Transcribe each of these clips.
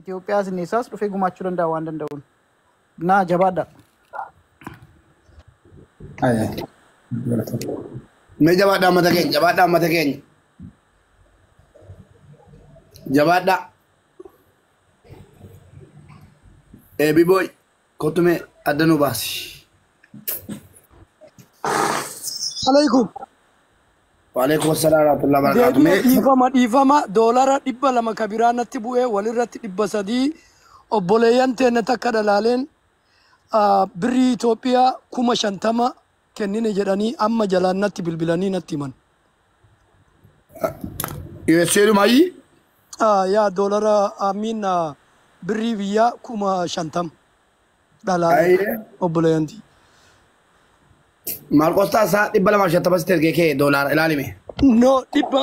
Itoophiyaa sinneessaas dhufee gumaachuu danda'a waan danda'uun. Naa jabaadha. Mee jabaadhaa mata keenya, jabaadhaa mata keenya, jabaadhaa. Eebibooy, Kottu mee adda nu baasi. Alaikum. Waalaikum assalam warahmatullahi wabarakatuh. Deebi'ee Mee dhiifama dhiifama doolara dhibba lama ka biraa natti bu'ee walirratti dhibba sadii obboleeyyan teenna takka dhalaaleen ah, birrii Itoophiyaa kuma shantama kennine jedhanii amma jalaan natti bilbilanii natti himan. USA dhuma ayyi Ah, yaa doolara amiin ah, birrii biyyaa kuma shantam dhalaalee Ayyee. obboleeyyantii. Maarqos Taasaa dhibba lamaa fi shantama sitti ergee kee doolaara ilaalime. No dhibba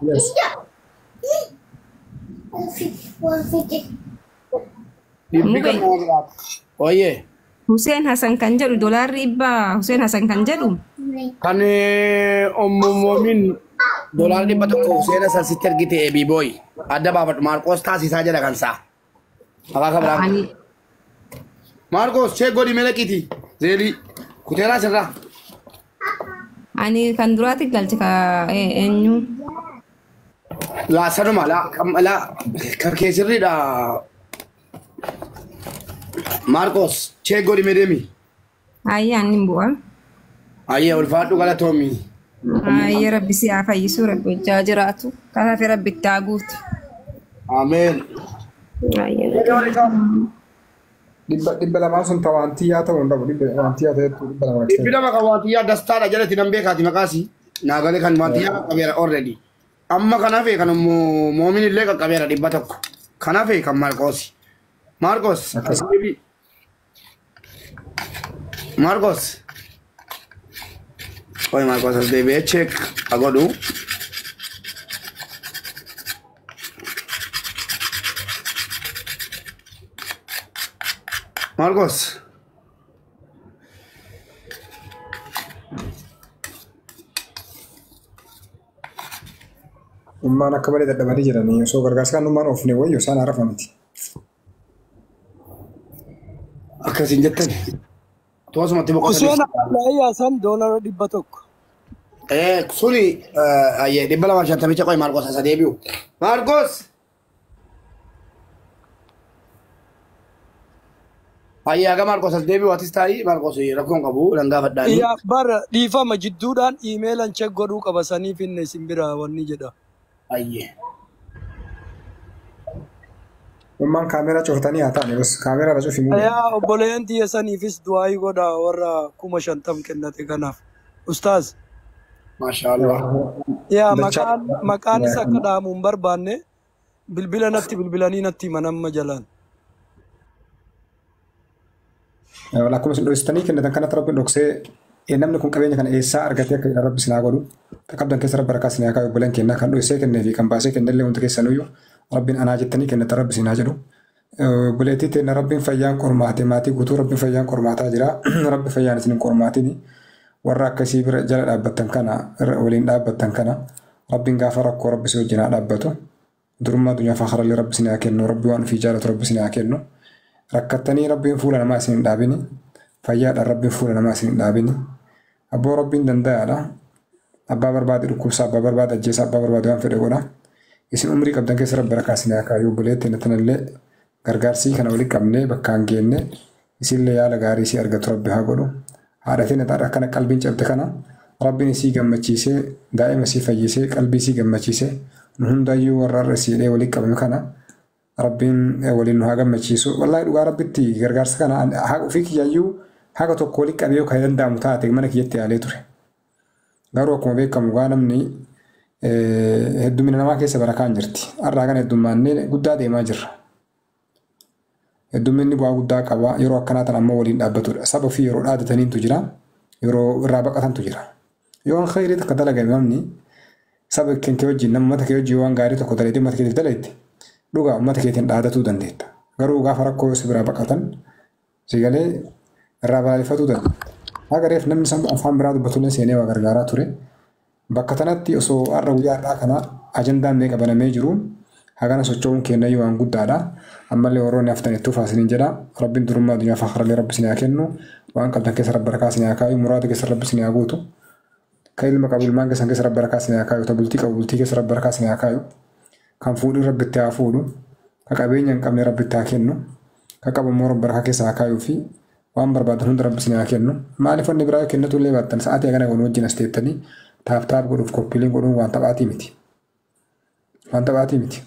Yes. Dhibbi Mube. kan nama biraati. Wayyee. Huseen Hasan kan jedhu dolaarri dhibba Huseen Hasan kan jedhu Kan ommoomoomiin doolaara dhibba tokko seena san sitti ergite eebii booyi. Adda baafadhu Maarqoos taasisaa jedha kan isaa. Maqaa kan biraa. Ani Maarqoos cheek godhi mee laqiiti. Zeelii kuteeraa sirraa. ani kan duraati galche ka e- eenyu Laa sanuma laa kam- laa kan kee sirriidha. Maarqoos cheek godhi mee deemi. Ayyaa inni hin bu'aa. Ayyee ulfaadhu galatoomi. Ayyaa rabbi si haa fayyisuu rabbi hojjaa jiraatu. Kataate rabbi itti haa guutu. Ameen. Ayyaa. Dhibba dhibba lamaa sun ta waantiyyaa ta'uu hin dhabu. Dhibba waantiyyaa ta'etu dhibba lama Dhibbi ta'e. lama kan waantiyyaa dastaadha jalatti nan beekaati maqaasi. Naa galee kan waantiyyaa qaqqabeera already. Amma kan hafe kan immoo moomin illee qaqqabeera dhibba tokko. Kan hafe kan Maarqoosi. Maarqoos. Akkas. Asbeebii. Marcos. Qoy Marcos as deebi'ee check haa godhu. Marcos. Ummaan akka malee dadhabanii jiranii osoo gargaarsa kan ummaan oofne wayyo isaan haarafa miti. Akkas hin jettan. Tu asumatti Huseen boqotanii. Abdullahi Hasan doolara dhibba tokko. Eh, suni eh, ayyee dhibba lamaaf shantamicha qoy Maarqos asa deebi'u. Maarqos! Ayyee haga Maarqos as deebi'u atis taa'ii Maarqos rakkoon qabu nan gaafadhaanii. Yaa bara dhiifama jidduudhaan iimeelan check godhuu qaba saniif inni isin bira wanni jedha. Ayyee. Ummaan kaameeraa cufatanii haa taane bas kaameeraa irra cufi muudee. Yaa obboleeyyan tiyya saniifis du'aayii godha warra kuma shantam kennate kanaaf. Ustaaz, Maashaa Allah. yaa Dachaa. maqaan maqaanis akka dhaamu hin barbaanne bilbila natti bilbilanii natti himan amma jalaan. Akkuma isin dhoksitanii kennitan kanatti rabbiin dhoksee eh, namni kun qabeenya kana eessaa argatee akka jedhan rabbi isin haa godhu. Akka qabdan keessa rabbi harkaa isin haa kaa'u obboleen keenya kan dhoksee kennee fi kan baasee kenne illee hundi keessanuyyuu rabbiin anaa jettanii kennitan rabbi isin haa jedhu. Eh, Obboleettii teenna rabbiin fayyaan qormaate maatii guutuu rabbiin fayyaan qormaataa jira. Rabbi fayyaan isin hin qormaatiin warra akkasii bira jala dhaabbattan kana irra waliin dhaabbattan kana rabbiin gaafa rakkoo rabbi si wajjin haa dhaabbatu. Durummaa addunyaa fi aakharallee Rabbi isinii haa kennu. Rabbi waan ufii jaalatu Rabbi isinii haa kennu. Rakkattanii Rabbiin fuula namaa isin hin dhaabini. Fayyaadhaan Rabbiin fuula namaa isin hin dhaabini. Abboo Rabbiin dandayaadha. Abbaa barbaade dhukkubsa, abbaa barbaade ajjeesa, abbaa barbaade waan fedhe godha. Isin umrii qabdan keessa Rabbi barakaa isinii haa kaayu. Obboleetti teenna tanallee Gargaarsii kana wali qabne bakkaan geenne isiille yaala gaarii isii argatu rabbi haa godhu haadha teenna ta ar'a akkana qalbiin cabde kana rabbin isii gammachiisee daa'ima isii fayyisee qalbii isii gammachiise nu hundaayyuu warra ar'a isii hidhee wali qabnu kana rabbiin waliin nu haa gammachiisu wallaahi dhugaa rabbitti gargaarsa kana haa ofii kiyyaayyuu haga tokko wali qabee yoo kan danda'amu taate mana kiyyatti yaalee ture Garuu akkuma beekamu gaa namni heddumina namaa keessa barakaan jirti. Har'aa kana heddummaannee guddaa deemaa jirra. Heddumminni bu'aa guddaa qaba. Yeroo akkanaa tan ammoo waliin dhaabbatudha. Saba ofii yeroo dhaadataniintu jira. Yeroo irraa baqatantu jira. Yoo waan khayrii takka dalagame namni saba kan kee wajjin nama mata kee wajjin waan gaarii tokko dalaydee mata keetiif dalayte dhugaa ummata keetiin dhaadatuu dandeetta. Garuu gaafa rakkoo si biraa baqatan Si galee irraa balaaleffatuu danda'a. Haga reef namni sammuu afaan biraa dubbatullee seenee waa gargaaraa ture. Bakka tanatti osoo har'a guyyaa har'aa kana ajandaan meeqa banamee jiru hagana socho'uun keennayyuu waan guddaadha. Ammallee warroonni haftan itti fufaa isiniin jedha. Rabbiin durummaa addunyaa fi akhirallee rabbi isin haa kennu. Waan qabdan keessa rabbi barakaa isin haa kaayu. Muraada keessa rabbi isin haa guutu. Ka ilma qabu ilmaan keessan keessa rabbi barakaa isin haa kaayu. Ta bultii qabu bultii keessa rabbi barakaa isin haa kaayu. Kan fuudhin rabbi itti haa fuudhu. Ka qabeenya hin qabne rabbi itti haa kennu. Ka qabu immoo Rabbi harka keessa haa kaayuu fi waan barbaadan hunda Rabbi isin haa kennu. Maaliif wanni biraa yoo kennatuu illee baattan sa'aatii hagana wal wajjin as teettanii taap taap godhuuf koppiiliin godhuun waan taphaatii miti. Waan taphaatii miti.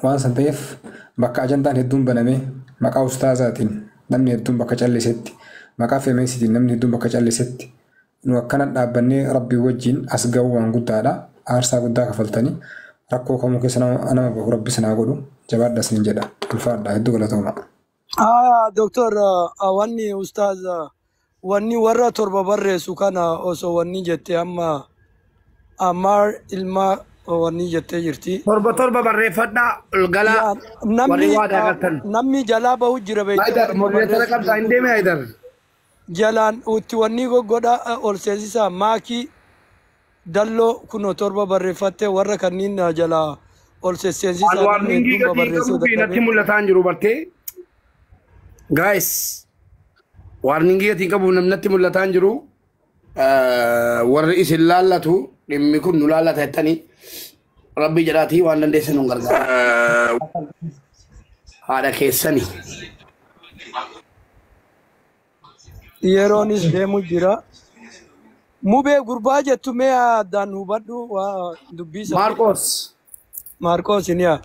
Waan san ta'eef bakka ajandaan hedduun banamee maqaa ustaazaatiin namni hedduun bakka callisetti maqaa femeesitiin namni hedduun bakka callisetti Nu akkana dhaabbannee Rabbii wajjiin as gahuu waan guddaadha. Aarsaa guddaa kafaltanii. Rakkoo kamuu keessa nama nama bahu Rabbi isin haa godhu. Jabaadha isiniin jedha. Ulfaadha. Hedduu galatooma. Aya doktor ah, wanni ustaaz ah, wanni warra torba barreessu kana osoo wanni jette amma ammaar ilma wanni jettee jirti. Torba torba barreeffadhaa ol galaa Yaa warri namni waadaa ah, galtan. namni jalaa bahu jira beekte Haydar warri nu modereetara barreessu qabdaa hin jirtu. deeme Haydar. jalaan uutti wannii goggodha ol seensisaa maakii dalloo kuno torba barreeffatte warra kanniin na jalaa ol sesseensisaa Anwaar namni linkii hedduun gatii babarreessee qabuu fi natti dadhabee mul'ataa hin jiru bartee. Guys, warningii gatii qabu namni natti mul'ataa hin jiru. Eh, Warri isin laallatu dhimmi kun nu laallata jettanii rabbii jedhaatii waan dandeessan nu gargaara. Eh, Haadha keessanii. Yeroonis deemu jira. Mubee gurbaa jettu mee addaan hubadhu waa dubbii sana. Maarqoos Maarqoos ni haa.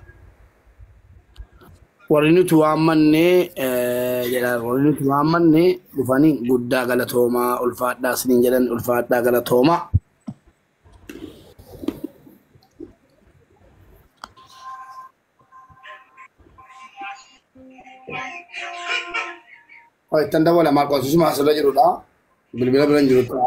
warri nuti waammannee eh, jedha warri nuti waammannee dhufanii guddaa galatoomaa ulfaadhaa isiniin jedhan ulfaadhaa galatoomaa. Ittan dabala maal qoosisuma asirra jirudha. Bilbila bira hin jirudha.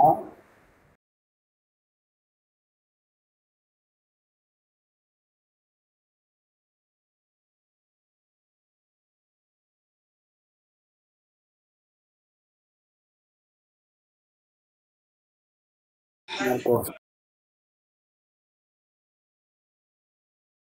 Maal qoos.